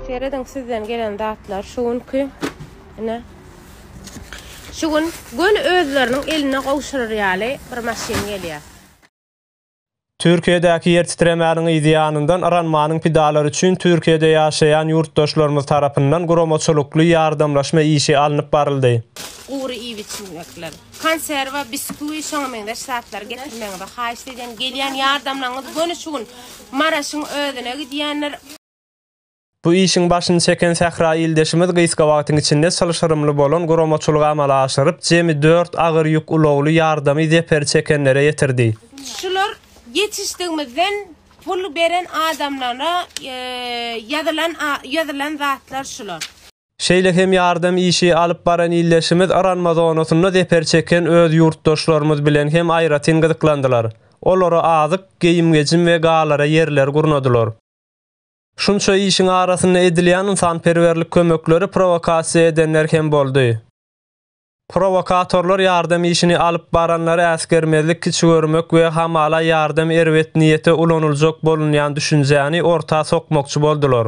Serediň sizden gelen zatlar şu günki ine şu gün göni özleriniň eline gowşurar ýaly bir maşyn gelýär. Türkiýedäki ýer titremäniň yzýanyndan yranmanyň pidalary üçin Türkiýede ýaşaýan ýurtdaşlarymyz tarapyndan guramaçylykly ýardamlaşma işi alnyp baryldy. Gury iýip-içmekler. konserwa, biskuit, şoňa meňzeş zatlary getirmegiňizi haýyşt edýän. Gelýän ýardamlaryňyz göni şu gün Maraşyň özüne gidýändir. Bu işiň başyny çeken sähra ildeşimiz gysga wagtyň içinde çylşyrymly bolan guramaçylygy amala aşyryp, jemi dört agyr ýük ulagly ýardamy zeperi çekenlere ýetirdi. Şular ýetişdigimizden pul beren adamlara ýazylan ýazylan zatlar şular. Şeýle hem ýardam işi alyp baran ildeşimiz yranma zonasynda zeper çeken öz ýurtdaşlarymyz bilen hem aýratyn gyzyklandylar. Olara azyk, geýim-gejim we galara ýerler gurnadylar. Şunça işiň arasynda edilýän ynsanperwerlik kömekleri prowokasiýa edenler hem boldy. Prowokatorlar ýardam işini alyp baranlary äsgermezlik, kiçi görmek we hamala ýardam erbet niýete ulanyljak bolunýan düşünjäni orta sokmakçy boldular.